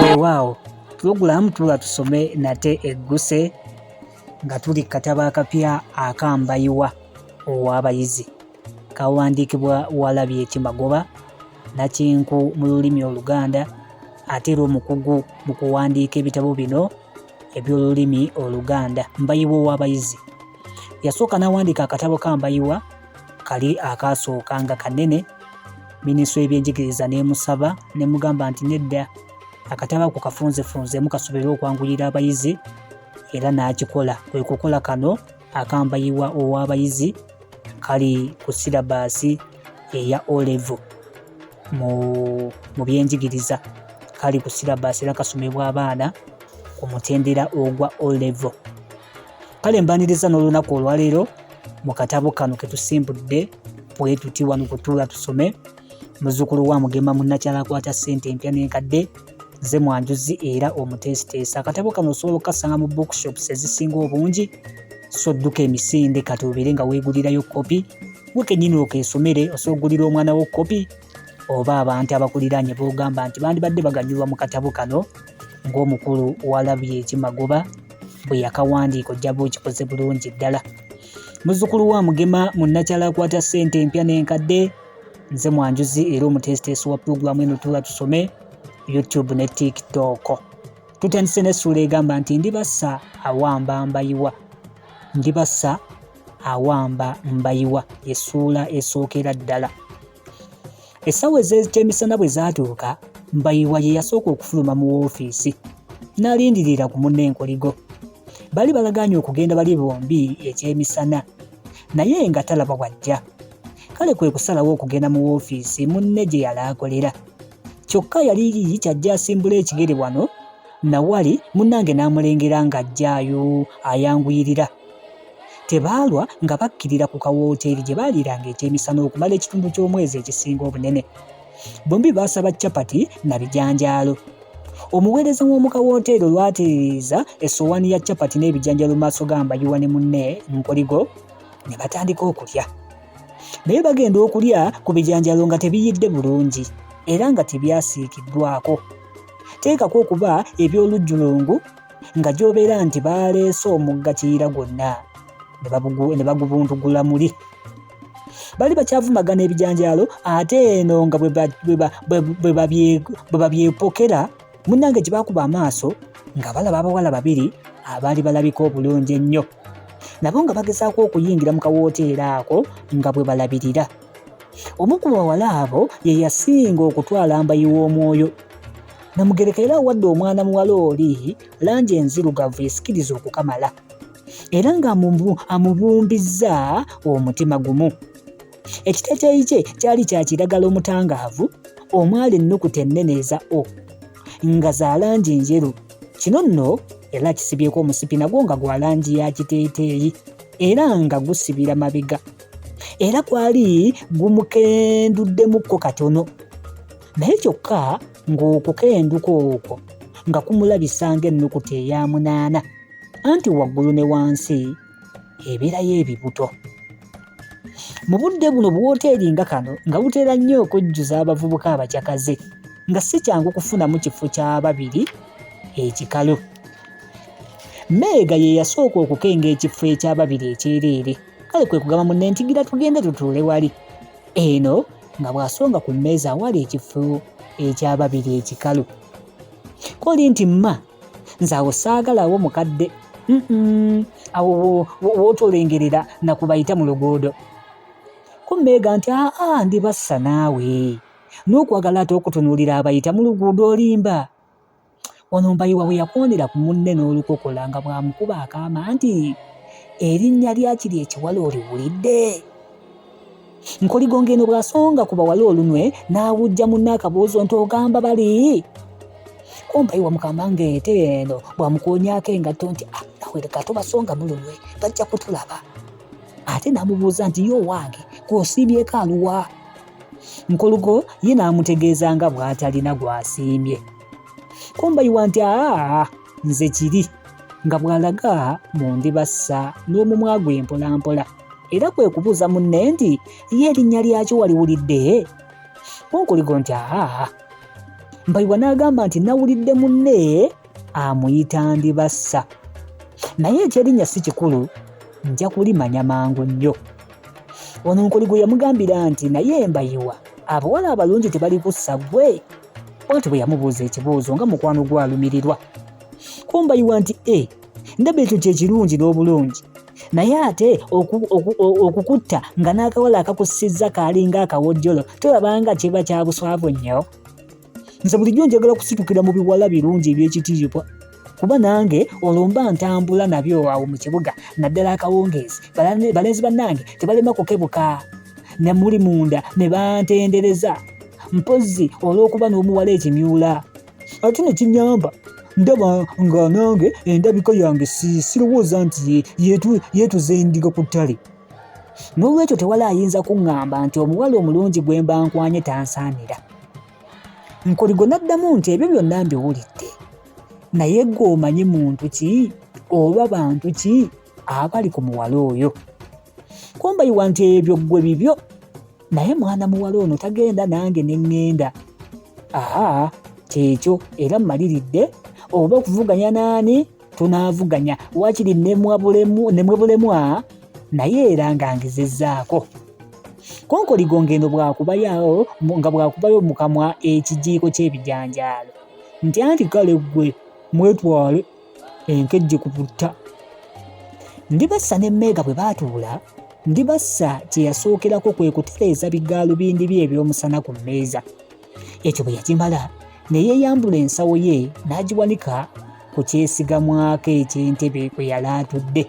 weewaawo pulogulaamu tula tusome nate egguse nga tuli kataba akapya akambayiwa ow'abayizi kawandiikibwa walabye kimagoba nakinku mu lulimi oluganda ate era omukugu mu kuwandiika ebitabo bino eby'olulimi oluganda mbayiwa ow'abayizi Yasooka n'awandiika akatabo ka Mbayiwa kali akaasooka nga kanene minisitule y'ebyenjigiriza n'emusaba ne mugamba nti nedda akatabo ako kafunzefunzemu kasobola okwanguyira abayizi era n'akikola kwe kukola kano akambayiwa ow'abayizi kali ku sirabaasi eya olevo mu byenjigiriza kali ku sirabaasi era kasomebwa abaana ku mutendera ogwa olevo kale mbaniriza n'olunaku olwaleero mu katabo kano ketusimbudde bwetuti wano kutuula tusome muzukulu wa mugema munnakyala akwata ssente empya n'enkadde ze mwanjuzi era omuteesiteesa akatabo kano osobola okukasanga mu bookshops ezisinga obungi so dduka emisinde kati obeere nga weegulirayo kopi gwe kennyini okeesomere osobola okugulira omwana wo kopi oba abantu abakuliraanye b'ogamba nti bandibadde baganyulwa mu katabo kano ng'omukulu walabye ekimagoba bwe yakawandiika ojja ba okikoze bulungi ddala muzzukulu wa mugema munnakyala akwata ssente empya n'enkadde nze mwanjuzi era omuteesiteesi wa pulogulaamu eno tuula tusome youtube ne tiktok tutandise n'essuula egamba nti ndibassa awamba mbayiwa ndibassa awamba mbayiwa essuula esookera ddala essawa ez'ekyemisana bwe zaatuuka mbayiwa ye yasooka okufuluma mu woofiisi n'alindirira ku munna enkoligo bali balagaanye okugenda bali bombi ekyemisana naye nga talaba wajja kale kwe kusalawo okugenda mu woofiisi munne gye yali akolera kyokka yali yikyajja asimbula ekigere wano na wali munnange n'amulengera ng'ajjaayo ayanguyirira Tebaalwa nga bakkirira ku kawooteeri gye baaliiranga ekyemisana okumala ekitundu ky'omwezi ekisinga obunene. Bombi baasaba capati na bijanjaalo. Omuweereza w'omu kawooteeri olwatereeza essowaani ya capati n'ebijanjaalo mu maaso ga Mbayiwa ne munne Nkoligo ne batandika okulya. Naye bagenda okulya ku bijanjaalo nga tebiyidde bulungi era nga tebyasiikiddwako. Teekako okuba eby'olujjulungu nga gy'obeera nti baaleese omugga kiyira gwonna ne bagubuntugula muli bali bakyavumagana ebijanjaalo ate eno nga bwe babyepokera munnange gye baakuba amaaso nga balaba abawala babiri abaali balabika obulungi ennyo nabo nga bagezaako okuyingira mu kawooteera ako nga bwe balabirira omu ku bawala abo ye yasinga okutwala mbayi w'omwoyo namugereka era awadde omwana muwala oli langi enzirugavu esikiriza okukamala era ng'amubumbizza omutima gumu ekiteteeyi kye kyali kya kiragala omutangaavu omwali ennukuta ennene eza o nga za langi njeru kino nno era kisibyeko omusipi nagwo nga gwa langi ya kiteeteeyi era nga gusibira mabega era kwali gumukenduddemukko katono naye kyokka ng'okukenduka okwo nga kumulabisa ng'ennukuta eya munaana anti waggulu ne wansi ebeerayo ebibuto mu budde buno buwooteeri nga kano nga butera nnyo okujjuza abavubuka abacakaze nga si kyangu kufunamu kifo kya babiri ekikalu meega ye yasooka okukenga ekifo ekyababiri ekyereere kale kwe kugamba munne nti gira tugende tutuule wali eno nga bw'asonga ku mmeeza awali ekifo eky'ababiri ekikalu koli nti mma nze awo saagalawo mukadde awo wootolengerera nakubayita mu luguudo kummeega nti aa ndibassa naawe n'okwagala ate okutunuulira abayita mu luguudo olimba Ono Mbayiwa bwe yakondera ku munne n'olukokola nga bw'amukuba akaama nti erinnya lya kiri ekiwala oliwulidde nkoligonga eno bw'asonga ku bawala olunwe n'awujja munne akabuuzo nti ogamba bali Mbayiwa mukama ng'ente eno bw'amukoonyaako engatto nti ah, nawe leka tubasonga mu lunwe bajja kutulaba ate n'amubuuza nti ye owange gw'osiibyeko aluwa nkuluko ye n'amutegeeza nga bw'atalina gw'asiimye kumbayiwa nti aa nze kiri nga bw'alaga mu ndibassa n'omumwa gwe mpolampola era kwe kubuuza munne nti ye erinnya lyakyo waliwulidde kunkuligo nti aa mbayiwa n'agamba nti nawulidde munne amuyita ndibassa naye ekyerinnya si kikulu nja kulimanya mangu nnyo wano nkuli gwe yamugambira nti naye embayiwa abawala abalungi tebali kussa gwe bwatyo bwe yamubuuza ekibuuzo nga mukwano gwe alumirirwa kumbayiwa nti e ndaba ekyo kyekirungi n'obulungi naye ate okukutta nga n'akawala akakussizza kaalinga akawojjolo tolabanga kiba kyabuswavu nnyo nze bulijjo njagala kusitukira mu biwala birungi eby'ekitiibwa kuba nange olumba ntambula nabyo awo mu kibuga naddala akawungeezi balenzi bannange tebalema kukebuka ne muli munda ne bantendereza mpozzi olw'okuba n'omuwala ekimyula ate ne kinyamba ndaba nga nange endabika yange sirowooza nti yetuze endiga ku ttale n'olwekyo tewali ayinza kuŋŋamba nti omuwala omulungi gwe mba nkwanye tansaanira nkoligo n'addamu nti ebyo byonna mbiwulidde naye gwe omanyi muntu ki oba bantu ki abali ku muwala oyo kumbayiwa nti ebyo ggwe bibyo naye mwana muwala ono tagenda nange ne ŋŋenda aha kyekyo era mmaliridde oba okuvuganya n'ani tunaavuganya wakiri nemwebulemwa naye era nga ngezezaako konkoligo ng'eno bwakubayawo nga bwakubayo mu kamwa ekijiiko ky'ebijanjaalo nti anti kale ggwe mwetwale enkejje ku butta ndibassa ne meega bwe baatuula ndibassa kye yasookerako kwe kutereeza bigaalubindi bye eby'omusana ku mmeeza Ekyo bwe yakimala ne yeeyambula ensawo ye n'agiwanika ku kyesigamwako eky'entebe kwe yali atudde.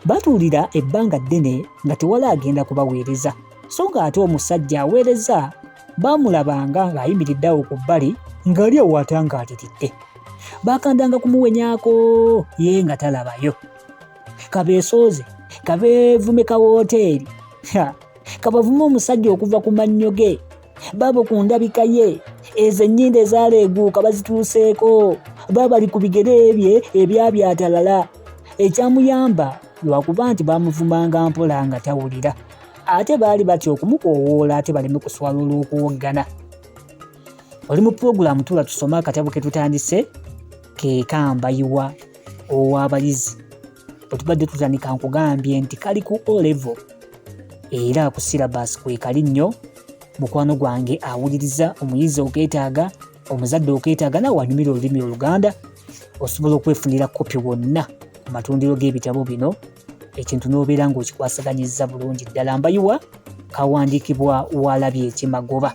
Batuulira ebbanga ddene nga tewali agenda kubaweereza, so ng'ate omusajja aweereza baamulabanga ng'ayimiridde awo ku bbali ng'ali awaata ng'aliridde. Baakandanga kumuwenyako ye nga talabayo. Kabeesooze, kabeevume ka wooteeri, kabavume omusajja okuva ku mannyo ge baabo ku ndabika ye ezo ennyinda ezaaleeguuka bazituuseeko baabali ku bigere bye ebyabyatalala ekyamuyamba lwakuba nti baamuvumanga mpola nga tawulira ate baali batya okumukoowoola ate baleme kuswala olw'okuwoggana oli mu pulogulaamu tula tusoma akatabo ke tutandise ke kambayiwa ow'abayizi bwetubadde tutandika nkugambye nti kali ku olevo era ku syllabus kwekali nnyo mukwano gwange awuliriza omuyizi okeetaaga omuzadde okeetaaga nawe wanyumira olulimi oluganda osobola okwefunira kopi wonna ku matundiro g'ebitabo bino ekintu n'obeera ng'okikwasaganyizza bulungi ddala mbayiwa kawandiikibwa waalabye ekimagoba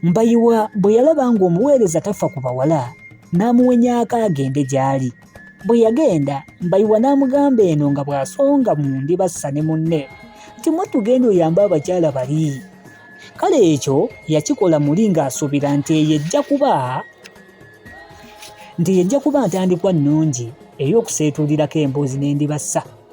Mbayiwa bwe yalaba ng'omuweereza tafa ku bawala n'amuwenyaako agende gy'ali. Bwe yagenda, Mbayiwa n'amugamba eno nga bw'asonga mu ndi bassa ne munne nti mwattu genda oyambe abakyala bali. Kale ekyo yakikola muli ng'asuubira nti eyo ejja kuba nti yejja kuba ntandikwa nnungi ey'okuseetuulirako emboozi n'endibassa.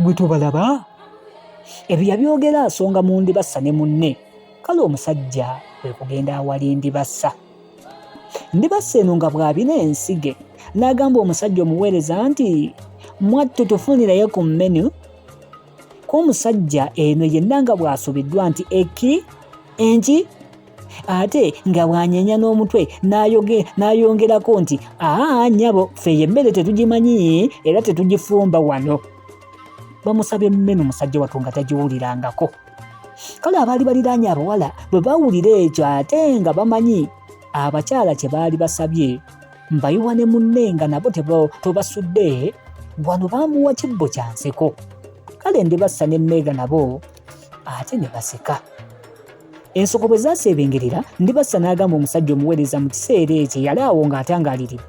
Gwe tobalaba? Ebyo yabyogera asonga mu ndibassa ne munne. Kale omusajja kwe kugenda awali ndibassa. Ndibassa eno nga bw'abina ensige n'agamba omusajja omuweereza nti mwattu tufunirayo ku menu k'omusajja eno yenna nga bw'asubiddwa nti eki enki ate nga bwanyenya n'omutwe n'ayongerako nti aa nyabo ffe yemmere tetugimanyi era tetugifumba wano bamusaba emmeme musajja watu nga tagiwulirangako kale abaali baliraanye abawala bwe bawulira ekyo ate nga bamanyi abakyala kye baali basabye mbayiwa ne munne nga nabo tobasudde wano bamuwa kibbo kya nseko kale ndibassa ne meega nabo ate ne baseka Ensoko bwe zaaseebengerera, Ndibassa n'agamba omusajja omuweereza mu kiseera ekyo eyali awo ng'atangaaliridde,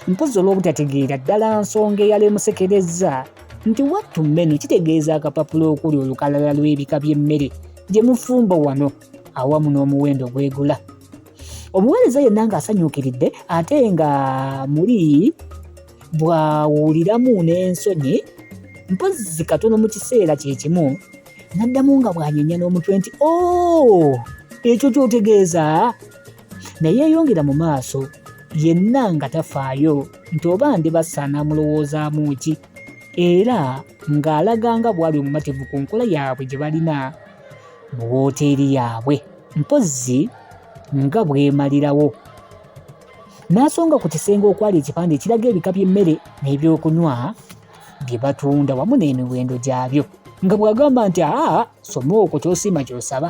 mpozzi olw'obutategeera ddala nsonga eyaleemusekerezza, nti wattu mmenu kitegeeza akapapula okuli olukalala lw'ebika by'emmere gye mufumba wano awamu n'omuwendo gwegula. Omuweereza yenna ng'asanyuukiridde ate nga muli bw'awuliramu n'ensonyi, mpozzi katono mu kiseera kye kimu, n'addamu nga bw'anyenya n'omutwe nti o oh, ekyo ky'otegeeza naye yeyongera mu maaso yenna nga tafaayo nti oba ndibassa n'amulowoozaamu ki era ng'alaga nga bw'ali omumativu ku nkola yaabwe gye balina mu wooteeri yaabwe mpozzi nga bwemalirawo n'asonga ku kisenge okwali ekipande ekiraga ebika by'emmere n'ebyokunywa bye batunda wamu n'emiwendo gyabyo nga bw'agamba nti aa soma okwo kyosiima ky'osaba